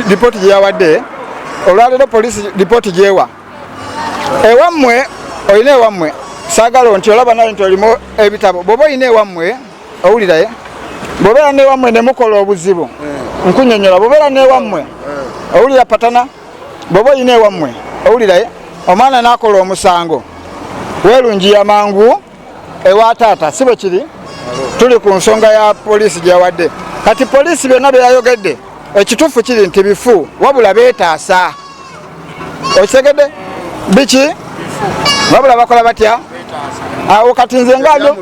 lipooti gye yawadde olwaleero poliisi lipooti gyewa ewammwe olina ewammwe saagala nti olaba naye nti olimu ebitabo bwoba olina ewammwe owuliraye bwobeera newammwe nemukola obuzibu nkunyonyola bwobeera newammwe owulira patana bwoba olina ewammwe owuliraye eh? omwana nakola omusango welungiya mangu ewa taata si bwe kiri tuli ku nsonga ya poliisi gyeyawadde kati poliisi byonna byeyayogedde ekituufu kiri nti bifu wabula betaasa okitegedde biki wabula bakola batya awo kati nze ngabyo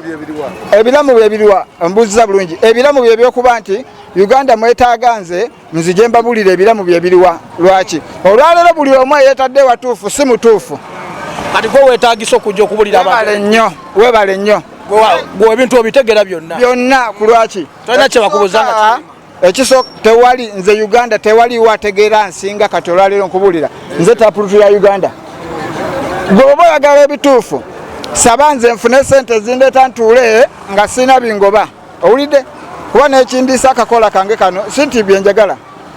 ebiramu byebiriwa mbuuziza bulungi ebiramu byebyokuba nti uganda mwetaaga nze nzije mbabulira ebiramu bye biriwa lwaki olwaleero buli omu eyetadde watuufu si mutuufu kati gwe wetagisa okujja okubulira webale nnyo webale nnyo gwe ebintu obitegera byonna byonna ku lwaki tolina kyebakubuza ah, ekiso tewali nze uganda tewali wategeera nsinga kati olwaleero nkubulira nze tapulutu ya uganda gwe oba oyagala ebituufu saba nze nfune sente zindeeta ntuule nga sirina bingoba owulidde kuba nekindiisa akakola kange kano si nti byenjagala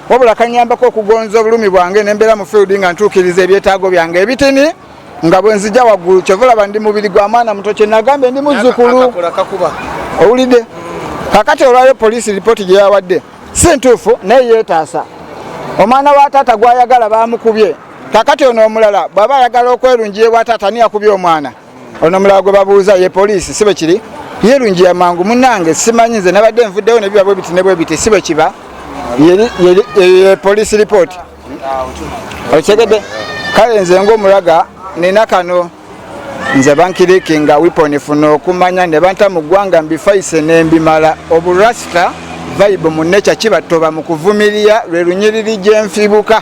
wabula kanyambako okugonza obulumi bwange nembeera mu field nga ntuukiriza ebyetaago byange ebitini nga bwenzija waggulu kyova olaba ndi mubiri gwa mwana muto kyenagambye ndi muzzukulu owulidde kakati olwayo poliisi lipooti gye yawadde si ntuufu naye yeetaasa omwana wa taata gwayagala bamukubye kakati ono omulala bwaba ayagala okwerungiye bwa taata ani yakubye omwana ono mulala gwe babuuza ye poliisi si bwe kiri yerungi ya mangu munange simanyi nze nabadde nvuddewo nebiba bwe biti ne bwe biti si bwe kiba ye poliisi ripooti okitegedde kale nze ngaomulaga nina kano nze bankiriki nga wiponi funa okumanya ne banta mu ggwanga mbifaise ne mbimala oburasita vaibu mu nekya kibattoba mu kuvumirira lwe lunyiriri gye nfibuka